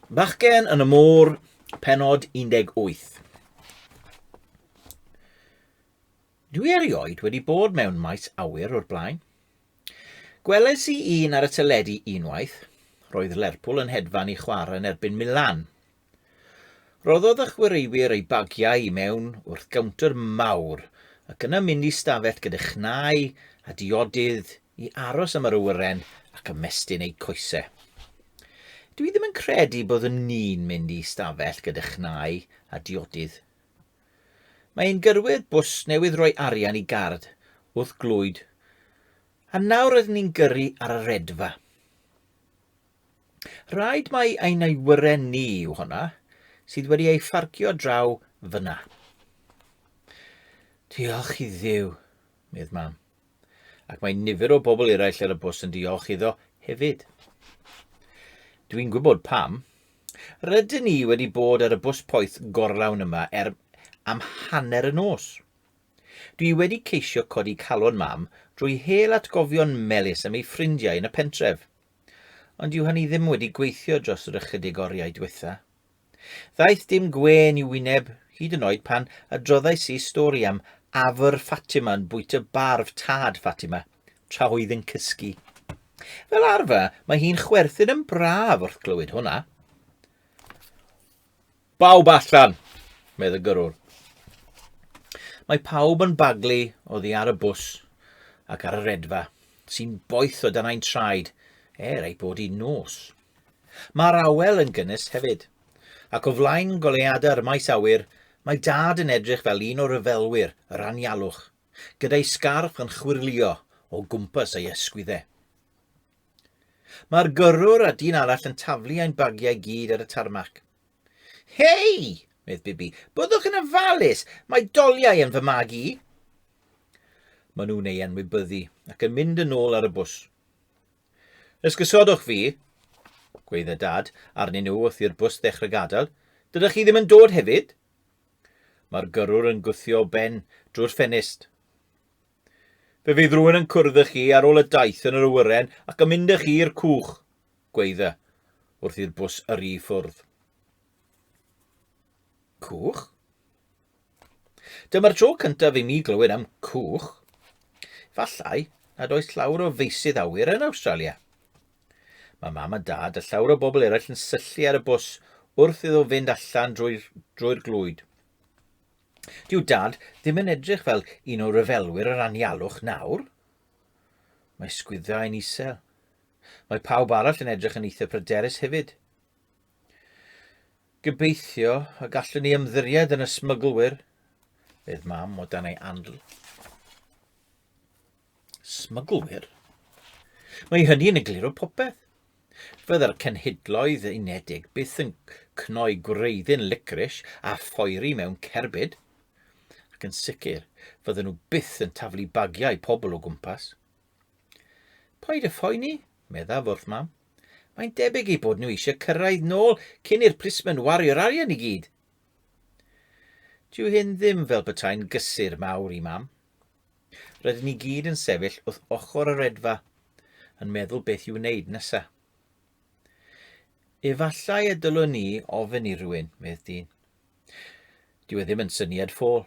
Bachgen yn y môr, penod 18. Dwi erioed wedi bod mewn maes awyr o'r blaen. Gwelais i un ar y teledu unwaith. Roedd Lerpwl yn hedfan i chwarae yn erbyn Milan. Rhoddodd y chwaraewyr eu bagiau i mewn wrth gowntr mawr ac yna mynd i stafell gyda chnau a diodydd i aros am yr awyren ac ymestyn eu coesau. Dw i ddim yn credu byddwn ni'n mynd i stafell gyda chnau a diodydd. Mae ein gyrwyr bws newydd roi arian i gard wrth glwyd a nawr rydyn ni'n gyrru ar y redfa. Rhaid mai ein awyren ni yw honna, sydd wedi ei pharcio draw fyna. Diolch i ddiw, medd mam. Ac mae nifer o bobl eraill ar y bws yn diolch iddo hefyd. Dwi'n gwybod pam. Rydyn ni wedi bod ar y bws poeth gorlawn yma er am hanner y nos. Dwi wedi ceisio codi calon mam drwy hel atgofion melus am ei ffrindiau yn y pentref, Ond dyw hynny ddim wedi gweithio dros yr ychydig oriau diwetha. Ddaeth dim gwên i'w wyneb, hyd yn oed pan adroddais i stori am afr Fatima yn bwyta barf tad Fatima, tra oedd yn cysgu. Fel arfer, mae hi'n chwerthin yn braf wrth glywed hwnna. Bawb allan! medd y gyrrwr. Mae pawb yn baglu oddi ar y bws ac ar y redfa, sy'n boeth o dan ein traed er ei bod hi'n nos. Mae'r awel yn gynnes hefyd, ac o flaen goleuadau'r maes awyr mae dad yn edrych fel un o ryfelwyr yr anialwch, gyda'i sgarff yn chwyrlio o gwmpas ei ysgwyddau. Mae'r gyrrwr a dyn arall yn taflu ein bagiau gyd ar y tarmac. Hei! medd Bibi, byddwch yn ofalus, mae doliau yn fy mag i. Maen nhw'n ei anwybyddu ac yn mynd yn ôl ar y bws. Ysgysodwch fi, gweidda dad, arnyn nhw wrth i'r bws ddechrau gadael. Dydych chi ddim yn dod hefyd? Mae'r gyrrwr yn gwthio ben drwy'r ffenest. Fe fydd rhywun yn cwrdd â chi ar ôl y daith yn yr awyren ac yn mynd â chi i'r cwch, gwaedda, wrth i'r bws yrru i ffwrdd. Cwch? Dyma'r tro cyntaf i mi glywed am cwch. Fallai nad oes llawr o feisydd awyr yn Awstralia. Mae mam a dad a llawr o bobl eraill yn syllu ar y bws wrth iddo fynd allan drwy'r drwy glwyd. Dyw Dad ddim yn edrych fel un o ryfelwyr yr anialwch nawr. Mae sgwydda yn isel. Mae pawb arall yn edrych yn eitha pryderus hefyd. Gobeithio y gallwn ni ymddiried yn y smyglwyr, fedd mam o dan ei andl. Smyglwyr? Mae hynny yn egluro popeth. Fydda'r cenhedloedd unedig byth yn cnoi gwreiddyn licris a phoeri mewn cerbyd. Ac yn sicr, fydden nhw byth yn taflu bagiau pobl o gwmpas. Paid â phoeni, meddaf wrth mam. Mae'n debyg ei bod nhw eisiau cyrraedd nôl cyn i'r plismen wario'r arian i gyd. Dyw hyn ddim fel petai'n gysur mawr i mam. Rydyn ni gyd yn sefyll wrth ochr y redfa, yn meddwl beth i'w wneud nesa. Efallai y dylwn ni ofyn i rywun, medd dyn. Dyw e ddim yn syniad ffôl,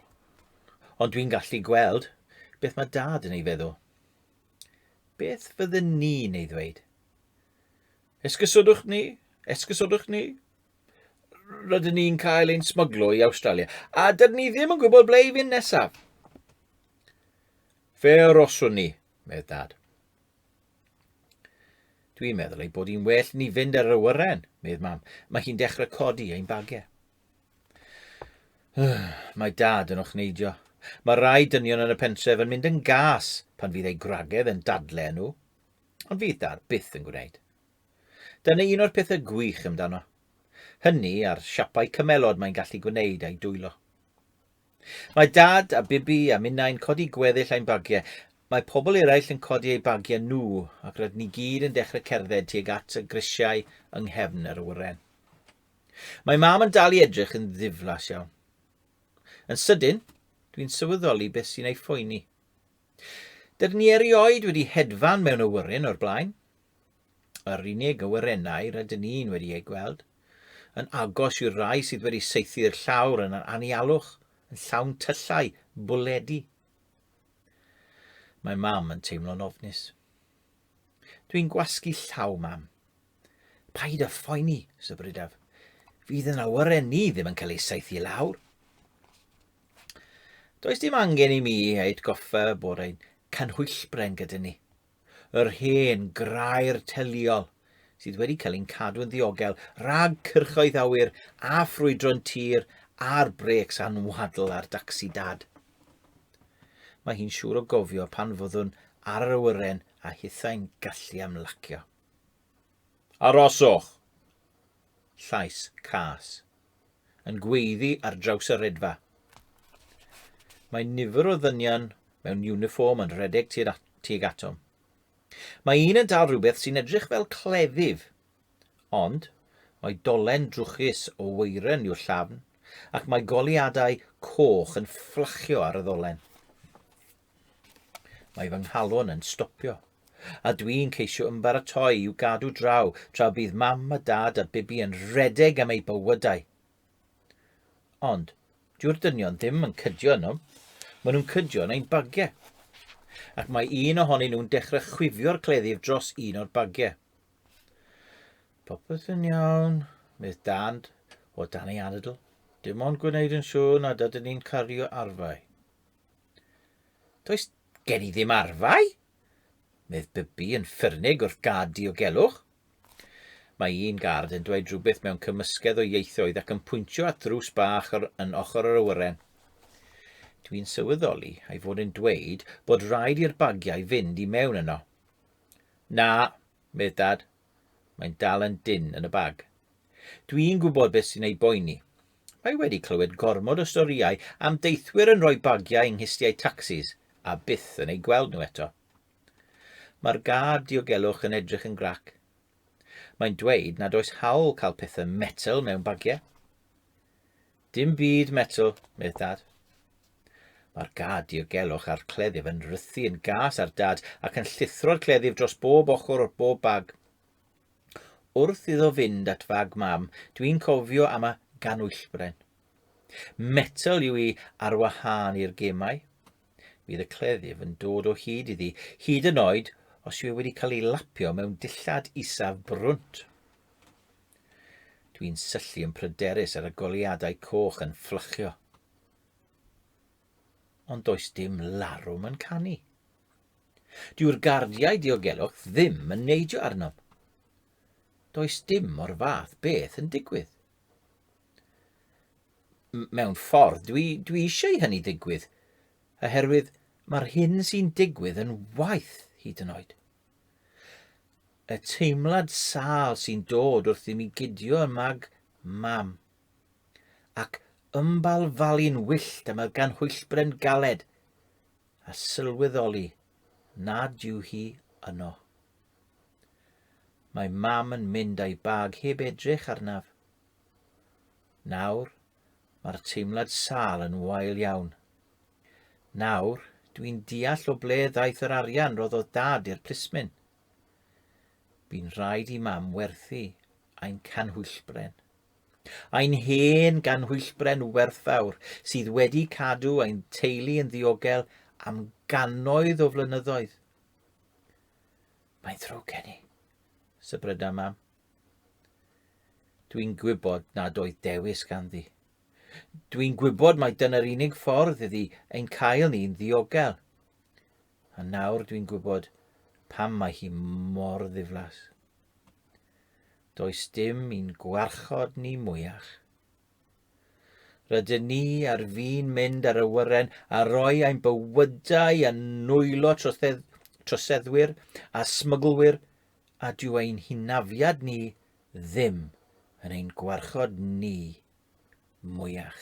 ond dwi'n gallu gweld beth mae dad yn ei feddwl. Beth fyddwn ni'n ei ddweud? Esgysodwch ni, esgysodwch ni, rydyn ni'n cael ein smyglo i Awstralia, a dydyn ni ddim yn gwybod ble i fynd nesaf. Fe aroswn ni, medd dad. Dwi'n meddwl ei bod hi'n well ni fynd ar y wyren, medd mam. Mae hi'n dechrau codi ein bagiau. Mae dad yn ochneidio. Mae rai dynion yn y pentref yn mynd yn gas pan fydd ei gwragedd yn dadle nhw. Ond fydd dad byth yn gwneud. Dyna un o'r pethau gwych amdano. Hynny a'r siapau cymelod mae'n gallu gwneud a'i dwylo. Mae Dad a Bibi a minnau'n codi gweddill ein bagiau. Mae pobl eraill yn codi eu bagiau nhw ac rydyn ni gyd yn dechrau cerdded tuag at y grisiau yng nghefn yr awyren. Mae Mam yn dal i edrych yn ddiflas iawn. Yn sydyn, dwi'n sylweddoli beth sy'n ei phoeni. Dydyn ni erioed wedi hedfan mewn awyren o'r blaen. Yr unig awyrennau rydyn ni'n wedi eu gweld, yn agos i'r rai sydd wedi saethu'r llawr yn yr anialwch, yn llawn tyllau, bwledi. Mae mam yn teimlo'n ofnus. Dwi'n gwasgu llaw, mam. Paid â phoeni, sybrydaf. Fydd yn awyren ni ddim yn cael ei saethu lawr. Does dim angen i mi ei atgoffa bod ein canhwyllbren gyda ni. Yr hen grair teliol sydd wedi cael ein cadw'n ddiogel rhag cyrchoedd awyr a ffrwydron tir a'r brêcs anwadl ar dacsi dad. Mae hi'n siŵr o gofio pan fyddwn ar yr awyren a hithau'n gallu amlacio. Aroswch! Llais cas yn gweiddi ar draws y redfa. Mae nifer o ddynion mewn uniform yn rhedeg tuag atom. Mae un yn dal rhywbeth sy'n edrych fel cleddyf, ond mae dolen drwchus o weiren i'w llafn ac mae goliadau coch yn fflachio ar y ddolen. Mae fy nghalon yn stopio, a dwi'n ceisio ymbaratoi i'w gadw draw tra bydd mam a dad a Bibi yn rhedeg am eu bywydau. Ond, dyw'r dynion ddim yn cydio yno. Maen nhw'n cydio yn ein bagiau. Ac mae un ohonyn nhw'n dechrau chwifio'r cleddyf dros un o'r bagiau. Popeth yn iawn, medd Dad, o dan ei anadl. Dim ond gwneud yn siŵr nad ydyn ni'n cario arfau. Does gen i ddim arfau, medd Bybi yn ffyrnig wrth gad diogelwch. Mae un gard yn dweud rhywbeth mewn cymysgedd o ieithoedd ac yn pwyntio at ddrws bach ar, yn ochr yr awyren. Dwi'n sylweddoli ei fod yn dweud bod rhaid i'r bagiau fynd i mewn yno. Na, medd Dad, Mae'n dal yn dyn yn y bag. Dwi'n gwybod beth sy'n ei boeni. Mae wedi clywed gormod o storïau am deithwyr yn rhoi bagiau yng nghistiau tacsis a byth yn eu gweld nhw eto. Mae'r gâd diogelwch yn edrych yn grac. Mae'n dweud nad oes hawl cael pethau metel mewn bagiau. Dim byd, Metw, medd Dad. Mae'r gad diogelwch a'r cleddyf yn rhythu yn gas ar Dad ac yn llithro'r cleddyf dros bob ochr o'r bob bag. Wrth iddo fynd at fag mam, dwi'n cofio am y ganwyllbren. Metel yw i ar wahân i'r gemau. Bydd y cleddyf yn dod o hyd iddi, hyd yn oed os yw e wedi cael ei lapio mewn dillad isaf brwnt. Dwi'n syllu yn pryderus ar y goleuadau coch yn fflachio. Ond does dim larwm yn canu. Dyw'r gardiau diogelwch ddim yn neidio arnom. Does dim o'r fath beth yn digwydd. M mewn ffordd, dwi, dwi eisiau i hynny ddigwydd, oherwydd mae'r hyn sy'n digwydd yn waith hyd yn oed. Y teimlad sâl sy'n dod wrth i mi gydio ym mag mam. Ac ymbalfalu'n wyllt am y ganhwyllbren galed a sylweddoli nad yw hi yno. Mae mam yn mynd a'i bag heb edrych arnaf. Nawr, Mae'r teimlad sâl yn wael iawn. Nawr, dwi'n deall o ble ddaeth yr arian roddodd dad i'r plismyn. Bu'n rhaid i mam werthu ein canhwyllbren. Ein hen ganhwyllbren werthfawr sydd wedi cadw ein teulu yn ddiogel am gannoedd o flynyddoedd. Mae'n ddrwg gen i, sybryda mam. Dwi'n gwybod nad oedd dewis ganddi. Dwi'n gwybod mai dyna'r unig ffordd iddi ein cael ni'n ddiogel. A nawr dwi'n gwybod pam mae hi mor ddiflas. Does dim i'n gwarchod ni mwyach. Rydyn ni ar fin mynd ar y wyren a roi ein bywydau a nwylo trosedd, troseddwyr a smyglwyr a dyw ein hynafiad ni ddim yn ein gwarchod ni mwyach.